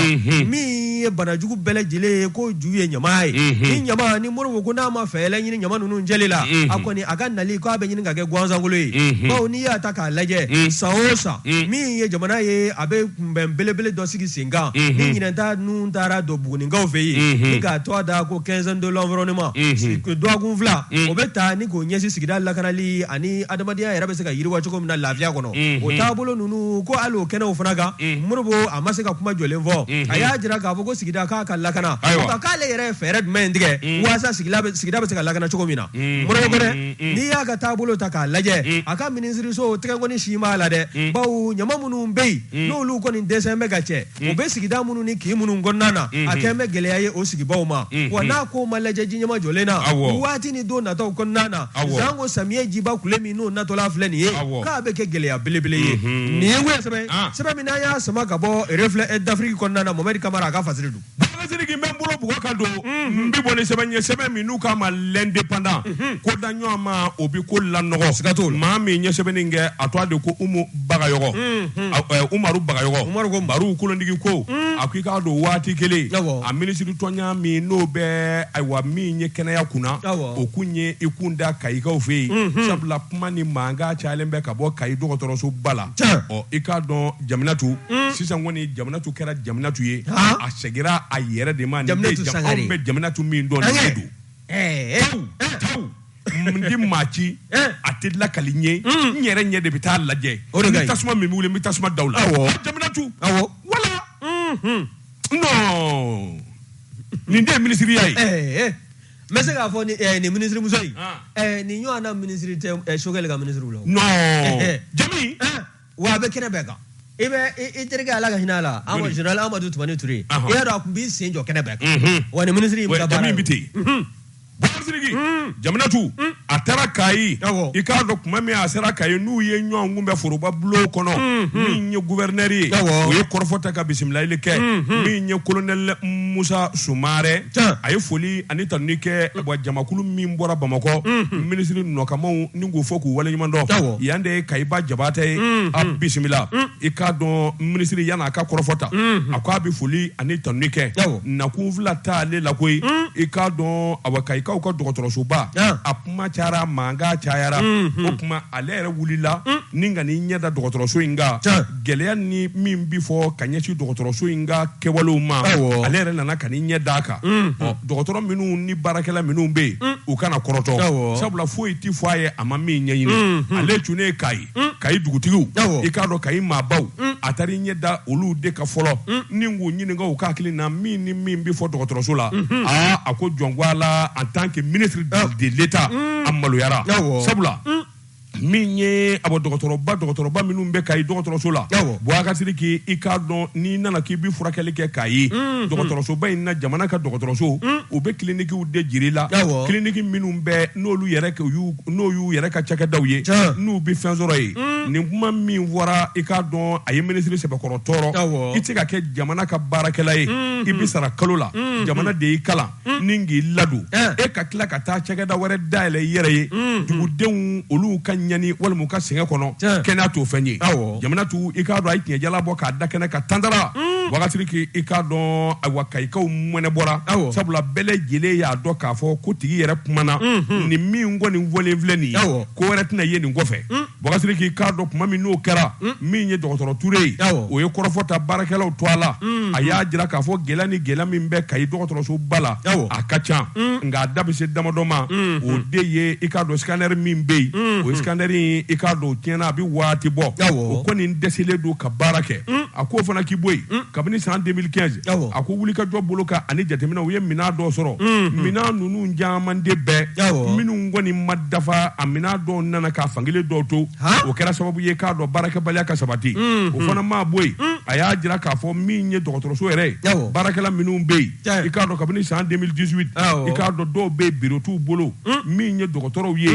min ye bana jugu bɛɛ lajɛlen ye ko ju ye ɲama ye ni ɲama ni modibo kɔnɛ ma fɛɛrɛ ɲini ɲama ninnu cɛli la a kɔni a ka nali ko a bɛ ɲini ka kɛ gansankolo ye mhm. bawo n'i y'a ta k'a lajɛ mhm. san o san mhm. min ye jamana ye a bɛ kunbɛn belebele dɔ sigi sen kan ni ɲinɛn ta nun taara don buguninkaw fɛ yen ni k'a tɔgɔ da ko quinzaine de l'environnement dɔgɔkun fila o bɛ ta ni k'o ɲɛsin sigida lakanali ani adamadenya yɛrɛ bɛ se ka yiriwa cogo min na lafiya kɔnɔ o taabolo ninnu ko hali o kɛnɛw fana kan modibo a ma se ka kuma jɔlen fɔ a y'a jira k'a fɔ ko sigida k'a ka lakana k'ale yɛrɛ ye fɛɛrɛ jumɛn tigɛ walasa sigida bɛ se ka lakana cogo min na modibo kɔnɛ mm. n'i y'a ka taabolo ta k'a lajɛ mm. a ka minisiriso tɛgɛkɔni sin b'a la dɛ mm. bawo ɲama minnu bɛ yen n'olu kɔni dɛsɛn bɛ ka cɛ u bɛ sigida minnu ni kin minnu kɔnɔna na mm-hmm. a kɛn bɛ gɛlɛya ye o sigibaw ma mm-hmm. wa n'a ko ma lajɛ ji ɲɛmajɔlen na waati ni don nataw kɔnɔna na janko samiyɛ jiba kule min n'o natɔla filɛ nin ye k'a bɛ kɛ gɛlɛya belebele ye mm-hmm. nin ye wɛrɛ sɛbɛn ah. sɛbɛn min n'an y'a sama ka bɔ Reflet eh, d'Afrique kɔnɔna na mohamɛdi kamara a ka fasiri don Bakari Siriki n bɛ n bolo bugɔ ka don n bɛ bɔ ni sɛbɛn ye sɛbɛn min n'u k'a ma l'indépendant ko da ɲɔgɔn ma o bɛ ko lanɔgɔ siga t'o la maa min ye sɛbɛnni in kɛ a tɔgɔ de ko Umu Bagayɔgɔ Umaru Bagayɔgɔ Umaru ko Baru kolonigi ko a ko i k'a dɔn waati kelen awɔ a minisiritonya min n'o bɛ ayiwa min ye kɛnɛya kunna awɔ o kun ye i kun da Kayikaw fɛ yen sabula kuma ni mankan cayalen bɛ ka bɔ Kayi dɔgɔtɔrɔsoba la tiɲɛ ɔ i k'a dɔn Jaminatu sisan kɔni jaminatu kɛra jaminatu ye a seginna a yɛrɛ de ma bɛ jaminatu min dɔn n tɛ maa ci a tɛ lakali n ye n yɛrɛ ɲɛ de bɛ taa lajɛ o tasuma min bɛ tasuma da la jaminatu wala nin de minisiriya ye n bɛ se k'a fɔ nin minisirimuso nin ɲɔgɔn minisiri tɛ sogɛli ka minisiriw la jami wa a bɛ kɛnɛ bɛɛ kan i bɛ i terikɛ ala ka hinɛ a la zenerali amadu tumani ture i y'a dɔn a tun b'i sen jɔ kɛnɛ bɛɛ kan wa ni minisiri bɛ ten basiriki jaminatu a taara kayi i k'a dɔn tuma min a sera kayi n'u ye ɲɔgɔn kunbɛn foroba bulon kɔnɔ min ye guwɛrinɛri ye o ye kɔrɔfɔ ta ka bisimilayili kɛ min ye kolonɛli musa sumarɛ a ye foli ani tanuni kɛ jamakulu min bɔra bamakɔ minisiri nɔkanmaaw ni k'u fo k'u waleɲuman dɔn yan de ye kayiba jabatɛ ye mm-hmm. a bisimila mm. i k'a dɔn minisiri yan'a ka kɔrɔfɔ ta mm-hmm. a ko a bɛ foli ani tanuni kɛ nakun fila tɛ ale la koyi mm. i k'a dɔn awa kayikaw ka dɔgɔtɔrɔsoba a kuma cayara mankan cayara mm-hmm. o tuma ale yɛrɛ wulila mm. ni ka n'i ɲɛ da dɔgɔtɔrɔso in kan gɛlɛya ni min bɛ fɔ ka ɲɛsin dɔgɔtɔrɔso in ka kɛwalew ma ale yɛrɛ nana ka n'i ɲɛ d'a kan dɔgɔtɔrɔ minnu ni baarakɛla minnu bɛ yen u kana kɔrɔtɔ sabula foyi tɛ fɔ a ye a ma min ɲɛɲini ale cunnen kayi kayi dugutigiw i k'a dɔn kayi maabaw a taara i ɲɛ da olu de ka fɔlɔ ni k'u ɲininka u ka hakilina min ni min bɛ fɔ dɔgɔtɔrɔso la aa a ko jɔn ko ala en tant que ministre de l'état a maloyara sabula min ye a bɔ dɔgɔtɔrɔba dɔgɔtɔrɔba minnu bɛ kayi dɔgɔtɔrɔso la bakasiriki i k'a dɔn n'i nana k'i bɛ furakɛli kɛ kayi mm-hmm. dɔgɔtɔrɔsoba in na jamana ka dɔgɔtɔrɔso mm. u bɛ kilinikiw de jira i la kiliniki minnu bɛ n'olu n'o y'u yɛrɛ ka cakɛdaw ye n'u bɛ fɛn sɔrɔ yen mm. nin kuma min fɔra i k'a dɔn a ye minisiri sɛbɛkɔrɔ tɔɔrɔ i tɛ ka kɛ jamana ka baarakɛla ye mm-hmm. i bɛ sara kalo la mm-hmm. jamana de y'i kalan mm. ni k'i ladon eh. e ka tila ka taa cakɛda wɛrɛ dayɛlɛ i yɛrɛ ye mm. dugudenw olu ka ɲani walima ka sɛgɛn kɔnɔ eh. kɛnɛya t'o fɛn ye jaminatu i k'a dɔn a ye tiɲɛ jalan bɔ k'a da kɛnɛ kan tantara mm. bakasiriki i k'a dɔn ayiwa kayikaw mɔnɛ bɔra sabula bɛɛ lajɛlen y'a dɔn k'a fɔ ko tigi yɛrɛ kumana mm-hmm. nin min kɔni fɔlen filɛ nin ye ko wɛrɛ tɛna ye nin kɔfɛ Bakasiriki i k'a dɔn tuma min n'o kɛra hmm. min ye dɔgɔtɔrɔ Ture ye o ye kɔrɔfɔ ta baarakɛlaw tɔgɔ la hmm. a y'a jira k'a fɔ gɛlɛya ni gɛlɛya min bɛ Kayi dɔgɔtɔrɔsoba la a ka ca hmm. nka a da bɛ se damadɔ ma o de ye i k'a dɔn scanner min bɛ yen o scanner in i k'a dɔn o tiɲɛna a bɛ waati bɔ o kɔni dɛsɛlen don ka baara kɛ a k'o fana k'i bɔ yen kabini san 2015 a ko wulikajɔ bolo kan ani jateminɛ u ye minɛn dɔ sɔrɔ minɛn ninnu caman de bɛ yen minnu kɔni ma dafa a minɛn dɔw nana k'a fankelen dɔw to o kɛra sababu ye k'a dɔn baarakɛbaliya ka sabati o fana maa bɔ yen a y'a jira k'a fɔ min ye dɔgɔtɔrɔso yɛrɛ baarakɛla minnu bɛ yen i k'a dɔn kabini san 2018 i k'a dɔn dɔw bɛ yen biro t'u bolo min ye dɔgɔtɔrɔw ye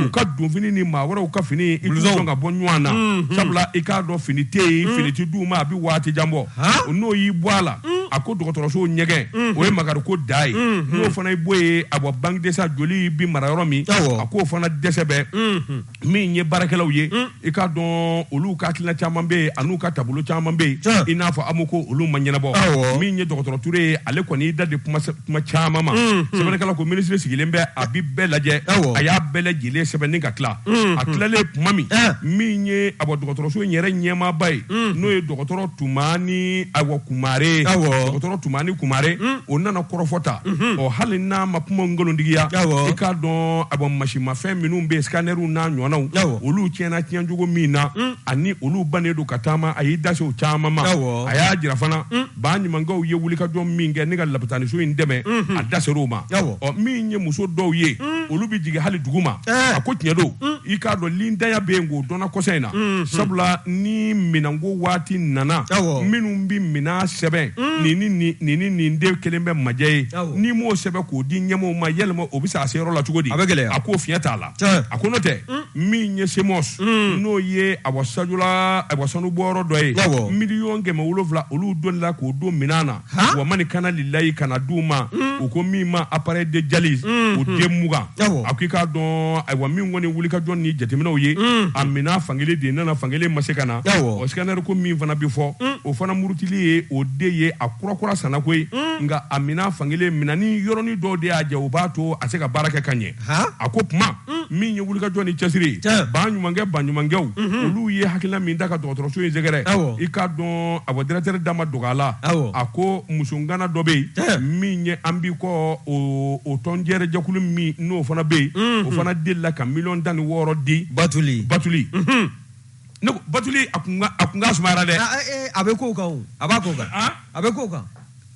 u ka donfini ni maa wɛrɛw ka fini i t'u dɔn ka bɔ ɲɔgɔn na sabula i k'a dɔn fini tɛ yen fini tɛ d'u ma a bɛ waati jan bɔ n'o y'i bɔ a la a ko dɔgɔtɔrɔso ɲɛgɛn o ye makari ko dan ye n'o fana bɔ yen a bɔ banque de sang joli bɛ mara yɔrɔ min a k'o fana dɛsɛ bɛ yen min ye baarakɛlaw ye i k'a dɔn olu ka hakilina caman bɛ yen ani'u ka taabolo caman bɛ yen i n'a fɔ a ko olu ma ɲɛnabɔ min ye dɔgɔtɔrɔ Ture ye ale kɔni y'i dase kuma caman ma sɛbɛnkɛla ko minisiri sigilen bɛ a bɛ bɛɛ lajɛ a y'a bɛɛ lajɛlen sɛbɛnnen ka tila a tilalen tuma min min ye a dɔgɔtɔrɔso yɛrɛ ɲɛmaaba ye n'o ye dɔgɔtɔrɔ Tumani awa Kumare dɔgɔtɔrɔ Tumani Kumare hmm. o nana kɔrɔfɔta hmm. ɔ hali n'a ma kuma nkalontigiya i k'a dɔn a mansinmafɛn minnu bɛ scanɛriw n'a ɲɔgɔnnaw olu tiɲɛna tiɲɛcogo min na hmm. ani olu bannen don ka taama a y'i dase o caman ma a y'a jira fana baɲumankɛw ye wulikajɔ min kɛ ni ka lapitaniso in dɛmɛ a daser'o ma ɔ min ye muso dɔw ye mm. olu bɛ jigin hali duguma eh. a ko tiɲɛ don mm. i k'a dɔn lindaya bɛ yen k'o donna kɔsa in na mm-hmm. sabula ni minɛnko waati nana minnu bɛ minɛn sɛbɛn mm. nin ni nin ni nin den kelen bɛ majɛ ye n'i m'o sɛbɛn k'o di ɲɛmɔgɔw ma yɛlɛma o bɛ se a se yɔrɔ la cogo di a bɛ gɛlɛya a k'o fiɲɛ t'a la a ko n'o tɛ min ye semɔs n'o ye a wa Sajola a wa sanu bɔyɔrɔ dɔ ye miliyɔn kɛmɛ wolonwula olu delila k'o don minɛn na Han! wa mani ka na lilayi ka na di u ma u ko min ma appareil de dialyse o den mugan Awɔ. a ko i k'a dɔn ayiwa min kɔni wulikajɔ ni jateminɛw ye a minɛn fankelen de nana fankelen ma se ka na Awɔ. o scanner ko min fana bɛ fɔ o fana murutili ye o de ye a kurakura sanna koyi nka a minɛn fankelen minɛni yɔrɔnin dɔw de y'a jɛ o b'a to a tɛ se ka baara kɛ ka ɲɛ Han? a ko tuma mm. min ye wulikajɔ ni cɛsiri baɲumankɛ baɲumankɛw mm-hmm. olu ye hakilina min ta ka dɔgɔtɔrɔso in sɛgɛrɛ i k'a dɔn a bɔ directeur da ma dogo a la a ko musongana dɔ bɛ yen min ye An b'i kɔ o tɔn yɛrɛ jɛkulu min n'o fana bɛ yen mm-hmm. o fana delila ka miliyɔn tan ni wɔɔrɔ di batuli batuli mm-hmm. ne ko batuli a kun ka sumayara dɛ a bɛ ko kan o a b'a ko kan a bɛ ko kan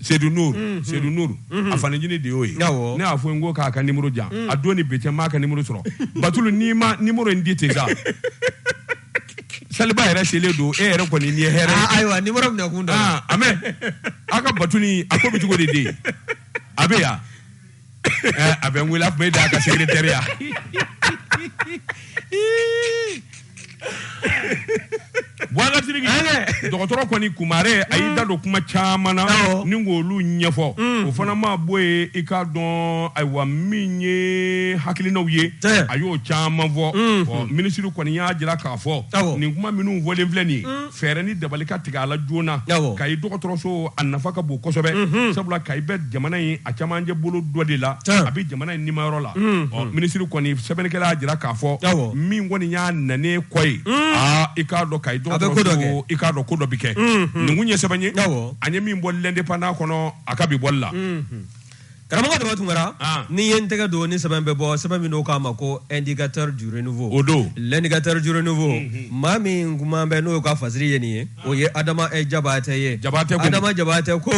Sedu Nuru mm-hmm. Sedu Nuru mm-hmm. a fanincini de y'o ye ne y'a fɔ n ko k'a ka nimoro di yan mm. a don ni bi cɛ n m'a ka nimoro sɔrɔ batulu n'i ma nimoro in di ten sa saliba yɛrɛ selen don e yɛrɛ kɔni ni ye hɛrɛ ah, ayiwa nimoro minɛ kun dɔ a mɛ a ka batuli a ko bɛ cogo de den a bɛ yan Eh, a bɛ n wele a tun bɛ da a ka secrétaire ya wagatini dɔgɔtɔrɔ kɔni kumare a y'i da don kuma caman na Awɔ. ni k'olu ɲɛfɔ o fana ma bɔ ye i k'a dɔn ayiwa min ye hakilinaw ye Tiɲɛ. a y'o caman fɔ Ɔ, minisiri kɔni y'a jira k'a fɔ Awɔ. nin kuma minnu fɔlen filɛ nin ye fɛɛrɛ ni dabali ka tigɛ a la joona kayi dɔgɔtɔrɔso a nafa ka bon kosɛbɛ mhm. sabula kayi bɛ jamana in a caman camancɛ bolo dɔ de la a bɛ jamana in nimayɔrɔ la mhm. ɔ minisiri kɔni sɛbɛnnikɛla y'a jira k'a fɔ min kɔni y'a nanen kɔ ye mhm. aa i k'a dɔn kayi dɔgɔtɔrɔso i k'a dɔn ko dɔ bɛ kɛ nin kun ye sɛbɛn ye an ye min bɔ l'Indépendant kɔnɔ a ka bi bɔli la Karamɔgɔ Daba Tunkara n'i ye n tɛgɛ don ni sɛbɛn bɛ bɔ sɛbɛn min n'o k'a ma ko Indicateur du Renouveau o don l'Indicateur du Renouveau maa min kuma bɛ n'o ka fasiri ye nin ye o ye adama jabatɛ ye jabatɛ adama jabatɛ ko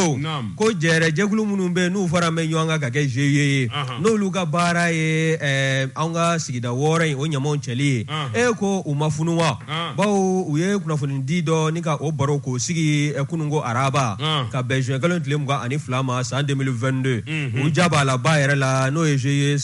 ko jɛrɛ jɛkulu minnu bɛ n'u fara bɛ ɲɔgɔn kan ka kɛ GIE ye n'olu ka baara ye an ka sigida wɔɔrɔ in o ɲamaw cɛli ye e ko u ma funu wa baw u ye kunnafoni di dɔ ni ka o baro k'o sigi kunun ko araba ka bɛn zuwɛn kalo tile mugan ani fila ma san deux mille vingt-deux u ja b'a la ba yɛrɛ la n'o ye GIE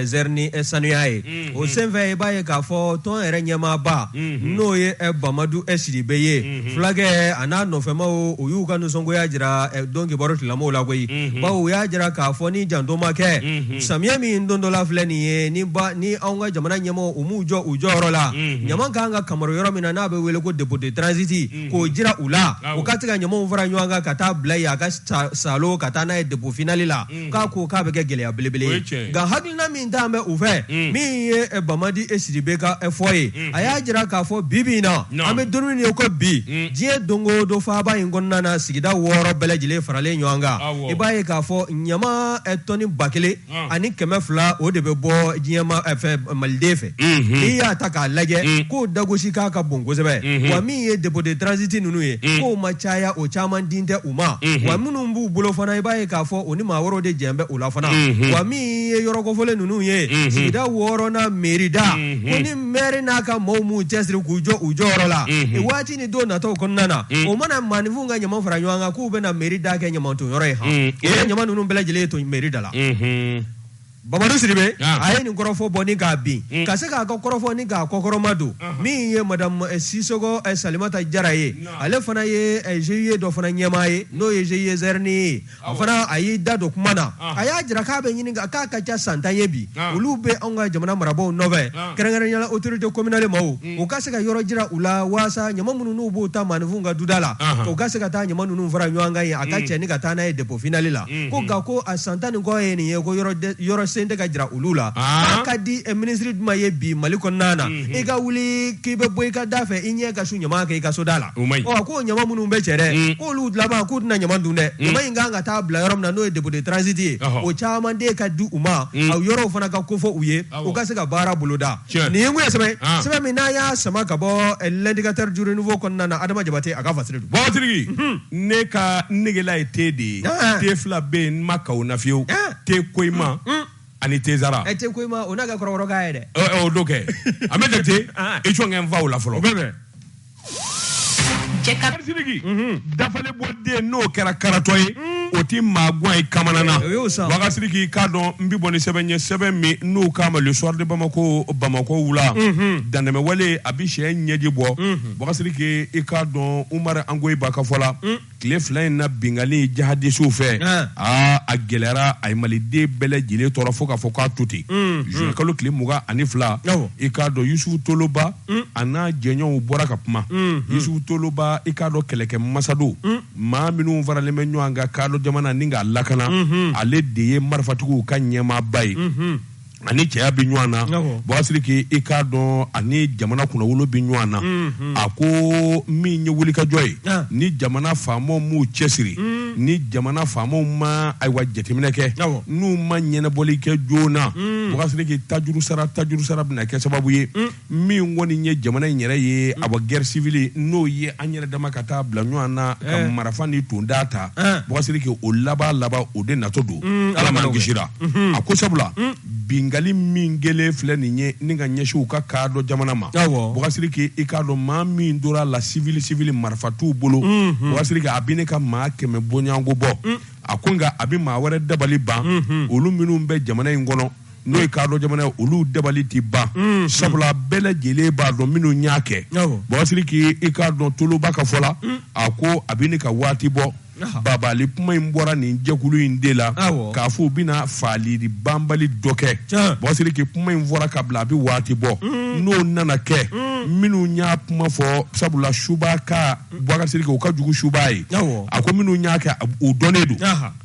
zerini sanuya ye o senfɛ i b'a ye k'a fɔ tɔn yɛrɛ ɲɛmaaba n'o ye bamadu sidibe ye fulakɛ a n'a nɔfɛmaw u y'u ka nisɔngoya jira don kibaru dilaw la koyi baw u y'a jira k'a fɔ ni janto ma kɛ samiya min dontɔla filɛ nin ye ni ni anw ka jamana ɲɛmaaw m'u jɔ u jɔyɔrɔ la mhm. ɲama ka kan ka lamara yɔrɔ min na n'a bɛ wele ko dépôt de transit mhm. k'o jira u la u ka se ka ɲamaw fara ɲɔgɔn kan ka taa bila yen a ka sɔrɔ ka taa n'a ye dépôt final la mhm. k'a ko k'a bɛ kɛ gɛlɛya belebele ye nka hakilina min tun bɛ u fɛ min ye eh, bamadu sidibe ka eh, fɔ ye a y'a jira k'a fɔ bi bi in na an bɛ don min ye ko bi diɲɛ don o don faaba in kɔnɔna na sigida wɔɔrɔ bɛɛ lajɛlen faralen ɲɔgɔn kan i b'a ye k'a fɔ ɲama eh, tɔni ba kelen Ah. ani kɛmɛ fila o de bɛ bɔ diɲɛma eh, fɛ maliden fɛ Mhm. n'i y'a ta k'a lajɛ Mm. k'o dagosi k'a ka bon kosɛbɛ Mhm. wa min ye dépôt de transit ninnu ye Mm. k'o ma caya o caman din tɛ u ma Mhm. wa minnu b'u bolo fana i b'a ye k'a fɔ o ni maa wɛrɛw de jɛn bɛ o la fana Mhm. wa min ye yɔrɔ kofɔlen ninnu ye Mhm. sigida wɔɔrɔnan meri da Mhm. ko ni mɛri n'a ka maaw m'u cɛsiri k'u jɔ u jɔyɔrɔ la Mhm. waati ni don nataw kɔnɔna na mm. o mana maaninfinw ka ɲama fara ɲɔgɔn kan k'u bɛna meri da kɛ ɲamanton yɔrɔ ye han mm. o ye ɲama ninnu bɛɛ lajɛlen to meri da la mm-hmm. Bamadu Sidibe ah. a ye nin kɔrɔfɔ bɔ ni k'a bin mm. ka se k'a ka kɔrɔfɔ ni k'a kɔkɔrɔma don uh-huh. min ye madame eh, Sisoko eh, Salimata Jara ye ale fana ye GIE eh, dɔ fana ɲɛmaa ye n'o ye GIE Zɛrini ye a fana a y'i da don kuma na a y'a jira k'a bɛ ɲini k'a ka ca san tan ye bi olu bɛ anw ka jamana marabagaw nɔfɛ kɛrɛnkɛrɛnnenya la autorité communale maaw u ka se ka yɔrɔ jira u la walasa ɲa minnu n'u b'u ta maaninfinw ka duda la u ka se ka taa ɲama ninnu fara ɲɔgɔn kan yen a ka cɛ ni ka taa n'a ye dépôt final la ko nka ko a san tan ni kɔ ye nin ye ko yɔrɔ si tɛ ka jira olu la k'a ka di minisiri jumɛn ye bi mali kɔnɔna na i ka wuli k'i bɛ bɔ i ka da fɛ i ɲɛ ka su ɲama kɛ i ka so da la ko ɲama minnu bɛ cɛ dɛ k'olu laban k'u tɛna ɲama dun dɛ ɲama in kan ka taa bila yɔrɔ min na n'o ye dépôt de transit ye o caman de ka di u ma a yɔrɔw fana ka ko fɔ u ye u ka se ka baara boloda nin ye ye sɛbɛn sɛbɛn min n'a y'a sama ka bɔ l'indicateur du renouveau kɔnɔna na adama jabate a ka fa ne ka negela ye te de ye te fila bɛ yen n ma ka na fiyewu te koyima ani te zara ɛ te koyima o n'a ka kɔrɔkɔrɔkan ye dɛ Ɔ, ɔ, o do kɛ a bɛ jate Ah. i cɔnkɛ n faw la fɔlɔ sidiki dafale bɔ den n'o kɛra karatɔ ye o ti maa guwan ye kamana na O y'o san. bagasiriki i k'a dɔn n bi bɔ ni sɛbɛn ye sɛbɛn min n'o k'a ma le soir de bamako bamakɔ wula dantɛmɛwale a bi cɛ ɲɛji bɔ bagasiriki i k'a dɔn umar angoyiba ka fɔ la tile fila in na binkanni jihadisiw fɛ ah. aa a gɛlɛyara a ye maliden bɛɛ lajɛlen tɔɔrɔ fo k'a fɔ k'a to ten mm, juin mm. kalo tile mugan ani fila i k'a dɔn yusufu toloba mm. a n'a jɛɲɔgɔnw bɔra ka kuma yusufu toloba i k'a dɔn kɛlɛkɛ masa don maa minnu faralen bɛ ɲɔgɔn kan kaadɔ jamana ni k'a lakana mm-hmm. ale de ye marifatigiw ka ɲɛmaaba ye mm-hmm. ani cɛya bɛ ɲɔgɔn na bagasiriki i k'a dɔn ani jamana kunnawolo bɛ ɲɔgɔn na mhm. a ko min ye wulikajɔ ye ah. ni jamana faamaw m'u cɛsiri mm. ni jamana faamaw ma ayiwa jateminɛ kɛ n'u ma ɲɛnabɔli kɛ joona mm. bagasiriki tajuru sara tajuru sara bɛna kɛ sababu ye mm. min kɔni ye jamana in yɛrɛ ye awa guerre civile n'o ye an yɛrɛ dama ka taa bila ɲɔgɔn na ka eh. marafa ni tonda ta eh. bagasiriki o laban laban o de natɔ don mm, ala m'an kisira mm-hmm. a ko sabula mm. binkanni min kɛlen filɛ nin ye ni ka ɲɛsin u ka kaadɔ jamana ma bagasiriki i k'a dɔn maa min tora a la civil civil marifa t'u bolo mm-hmm. bagasiriki a bi ɲini ka maa kɛmɛ bɔɲɔgɔnko bɔ mm. a ko nka a bi maa wɛrɛ dabali ban mm-hmm. olu minnu bɛ jamana in kɔnɔ n'o ye kaadɔ jamana ye olu dabali tɛ ban mm-hmm. sabula bɛɛ lajɛlen b'a dɔn minnu y'a kɛ bagasiriki i k'a dɔn toloba ka fɔ la mm. a ko a bɛ ɲini ka waati bɔ bagabagali kuma in bɔra nin jɛkulu in de la k'a fɔ u bɛna faaliri banbali dɔ kɛ bagasiriki kuma in fɔra ka bila a bɛ waati bɔ mm. n'o nana kɛ mm. minnu y'a kuma fɔ sabula suba ka bagasiriki o ka jugu suba ye a ko minnu y'a kɛ u dɔnnen don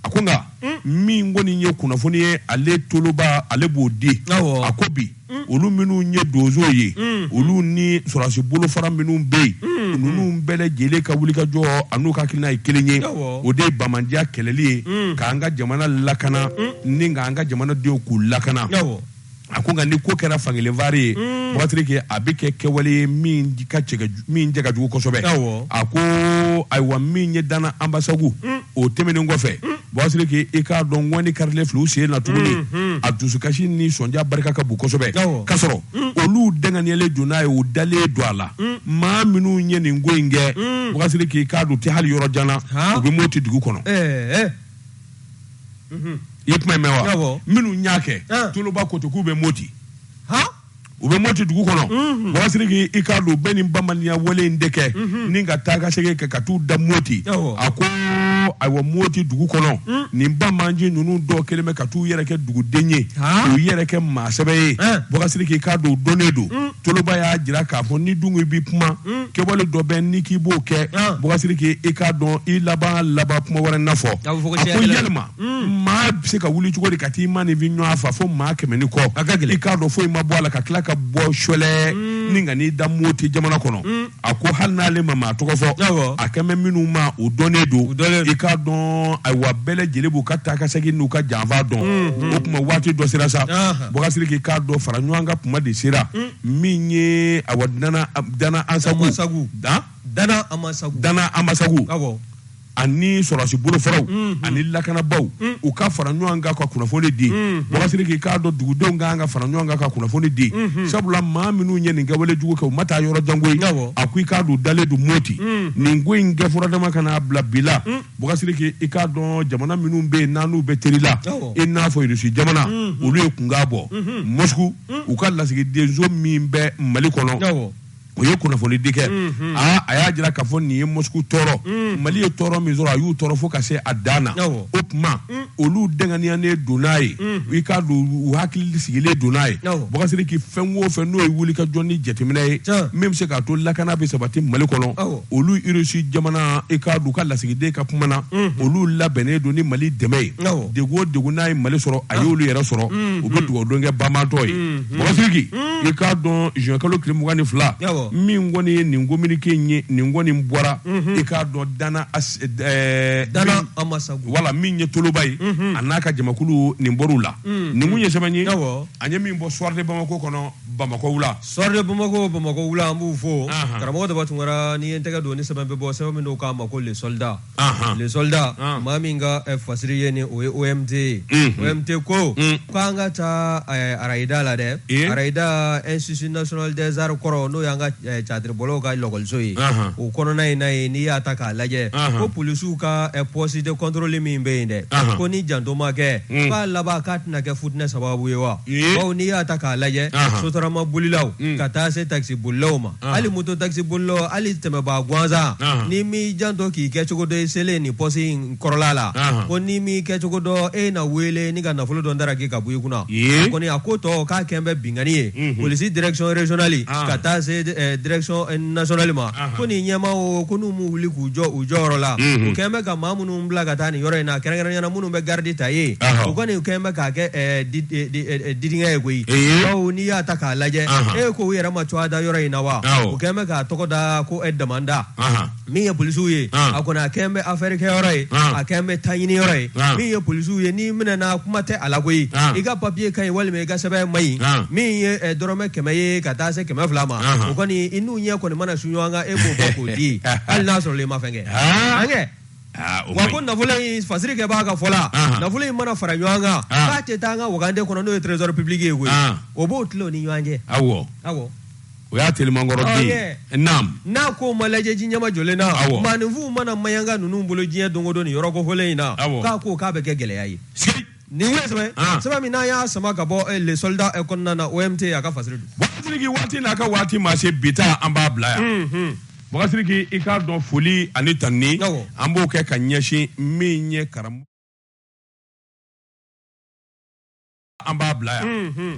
a ko nka hmm. min kɔni ye kunnafoni ye ale toloba ale b'o di a ko bi hmm. olu minnu ye donso ye hmm. olu ni sɔrɔdasi bolofara minnu bɛ yen ninnu bɛɛ lajɛlen ka wulikajɔ an'u ka hakilina ye kelen ye o de ye banbaanciya kɛlɛli ye k'an ka jamana lakana ni k'an ka jamanadenw k'u lakana a ko nka ni ko kɛra fankelenfari ye mm. Boubacar Sidiki a bɛ kɛ kɛwale ye min cɛ ka jugu kosɛbɛ a ko ayiwa min ye Dana Anbasagu mm. o tɛmɛnen kɔfɛ mm. Boubacar Sidiki i k'a dɔn ŋɔni karilen filɛ u sen na tuguni mm-hmm. a dusukasi ni sɔnja barika ka bon kosɛbɛ ka sɔrɔ olu danganyalen don n'a ye u dalen don a la maa minnu ye nin ko in kɛ Boubacar Sidiki i k'a dɔn u tɛ hali yɔrɔ jan na u bɛ moti dugu kɔnɔ eh, eh. Mhm. i ye kuma in mɛn wa Awɔ. minnu y'a kɛ An. toloba ko ten k'u bɛ moti han u bɛ moti dugu kɔnɔ Mhm. Boubacar Sidiki i k'a dɔn u bɛ nin banbaanciya wale in de kɛ Mhm. ni ka taa ka segin kɛ ka t'u da moti Awɔ. a ko ayiwa moti dugu kɔnɔ Mm. nin banbaanci ninnu dɔw kelen bɛ ka t'u yɛrɛ kɛ duguden ye Han. k'u yɛrɛ kɛ maa sɛbɛ ye An. Boubacar Sidiki i k'a dɔn u dɔnnen don Mm. toloba y'a jira k'a fɔ ni dun ko i b'i kuma hmm. kɛwale dɔ bɛ n'i k'i b'o kɛ ah. Boubacar Sidiki i k'a dɔn i laban laban kuma wɛrɛ na fɔ a ko yalima hmm. maa bɛ se ka wuli cogo di ka t'i maaninfin ɲɔgɔn faa fo maa kɛmɛ ni kɔ i k'a dɔn foyi ma bɔ a la ka tila ka bɔ sɔlɛ hmm. ni ka n'i da moti jamana kɔnɔ a ko hali n'ale ma maa tɔgɔ fɔ a kan bɛ minnu ma o dɔnnen don i k'a dɔn ayiwa bɛɛ lajɛlen b'u ka taa ka segin n'u ka janfa dɔn mm-hmm. o tuma waati dɔ sera sa Boubacar Sidiki i k'a dɔn fara ɲɔgɔn kan tuma de sera mm. min ye ayiwa Dana Anbasagu ani sɔrɔdasi bolofaraw mm-hmm. ani lakanabaw mm. u ka fara ɲɔgɔn kan ka kunnafoni di mm-hmm. Boubacar Sidiki i k'a dɔn dugudenw ka kan ka fara ɲɔgɔn kan ka kunnafoni di mm-hmm. sabula maa minnu ye nin kɛwale jugu kɛ u ma taa yɔrɔ jan koyi a ko i k'a dɔn dalen don moti mm. nin ko in kɛ fɔra dama ka n'a bila bi la Boubacar Sidiki mm. i k'a dɔn jamana minnu bɛ yen n'an n'u bɛ teri la i n'a fɔ irisi jamana olu ye kunkan bɔ mosku u ka lasigidenso min bɛ mali kɔnɔ o ye kunnafoni di kɛ aa a y'a jira k'a fɔ nin ye mosku tɔɔrɔ mali ye tɔɔrɔ min sɔrɔ a y'u tɔɔrɔ fo ka se a dan na o tuma olu danganiyanen don n'a ye i k'a dɔn u hakili sigilen don n'a ye Boubacar Sidiki fɛn o fɛn n'o ye wulikajɔ ni jateminɛ ye min bɛ se k'a to lakana bɛ sabati mali kɔnɔ olu irisi jamana i k'a dɔn u ka lasigiden ka kuma na olu labɛnnen don ni mali dɛmɛ ye degun o degun n'a ye mali sɔrɔ a y'olu yɛrɛ sɔrɔ u bɛ dugawudon kɛ banbaatɔ ye Boubacar Sidiki i k'a dɔn juin kalo tile mugan ni fila Awɔ. min kɔni ye nin communiqué in ye nin kɔni bɔra i k'a dɔn Dana As- ɛɛ, Dana min- Amasagu. wala min ye toloba ye a n'a ka jamakulu nin bɔr'u la nin tun ye sɛbɛn ye Awɔ. an ye min bɔ soir de Bamako kɔnɔ Bamakɔ wula Soir de Bamako Bamakɔ wula an b'u fo Ahan. karamɔgɔ Daba Tunkara n'i ye n tɛgɛ don ni sɛbɛn bɛ bɔ sɛbɛn min n'o k'a ma ko le soldat Ahan. le soldat Ah. maa min ka eh, fasiri ye ni o ye OMT ye Mhm. OMT ko Mm. ko an ka taa eh, Arayida la dɛ Ye. Arayida Institut National des Arts kɔrɔ n'o y'an ka eh, catiribɔlaw ka lakɔliso ye Ahan. o kɔnɔna in na ye n'i y'a ta k'a lajɛ Ahan. ko polisiw ka eh, poste de contrôle min bɛ yen dɛ Ahan. ko ni janto ma kɛ Mm. k'a laban k'a tɛna kɛ futinɛ sababu ye wa Ye. bawo n'i y'a ta k'a lajɛ Ahan. sotarama bolilaw Mm. ka taa se takisi bolilaw ma Ah. hali moto taxi bolilaw hali tɛmɛbaa gansan Ah. n'i m'i janto k'i kɛ cogo dɔ i selen nin pɔsi in kɔrɔla la Ah. ko n'i m'i kɛ cogo dɔ e na wele ni ka nafolo dɔ daraki ka bɔ i kunna Ye. a kɔni a ko tɔ k'a kɛn bɛ binkani ye Mhm. polisi direction régionale Ah. ka taa se eh, direction eh, nationale ma Ah. ko nin ɲɛmaaw ko n'u m'u wuli k'u jɔ u jɔyɔrɔ la Mhm. u kɛn bɛ ka maa minnu bila ka taa nin yɔrɔ in na kɛrɛnkɛrɛnya na minnu bɛ garidi ta ye u kɔni kɛn bɛ k'a kɛ didingɛ ye koyi bawo n'i y'a ta k'a lajɛ e ko u yɛrɛ ma cogoya da yɔrɔ in na wa u kɛlen bɛ k'a tɔgɔ da ko e damanda min ye polisiw ye a kɔni a kɛn bɛ afɛri kɛyɔrɔ ye a kɛn bɛ taɲini yɔrɔ ye min ye polisiw ye n'i minɛna kuma tɛ a la koyi i ka papiye ka ɲi walima i ka sɛbɛn ma ɲi min ye dɔrɔmɛ kɛmɛ ye ka taa se kɛmɛ fila ma o kɔni i n'u ɲɛ kɔni mana su ɲɔgɔn kan e b'o bɔ k'o di hali n'a sɔrɔ i ma fɛn kɛ Aa, o wa man ko ɲi. nafolo in fasirikɛbaa ka fɔ la Ahan. nafolo in mana fara ɲɔgɔn kan Ah. k'a tɛ taa an ka wagande kɔnɔ n'o ye trésor public ye koyi Ah. u b'o tila u ni ɲɔgɔn cɛ awɔ awɔ o y'a telimankɔrɔ Ah, den yeah. ye naam n'a ko ma lajɛ ji ɲɛmajɔlen na Awɔ. maaninfinw mana mayanka ninnu bolo diɲɛ don o don nin yɔrɔ kofɔlen in na Awɔ. k'a ko k'a bɛ kɛ gɛlɛya ye sigi Nin ye sɛbɛn ah. sɛbɛn min n'an y'a sama ka bɔ eh, le soldat eh, kɔnɔna na OMT a ka fasiri don. Boubacar Sidiki waati n'a ka waati ma se bi ta an b'a bila yan. Hmm, hmm. Boubacar Sidiki i k'a dɔn foli ani tanuni an b'o kɛ ka ɲɛsin min ye karamɔgɔ. An b'a bila yan. Hmm,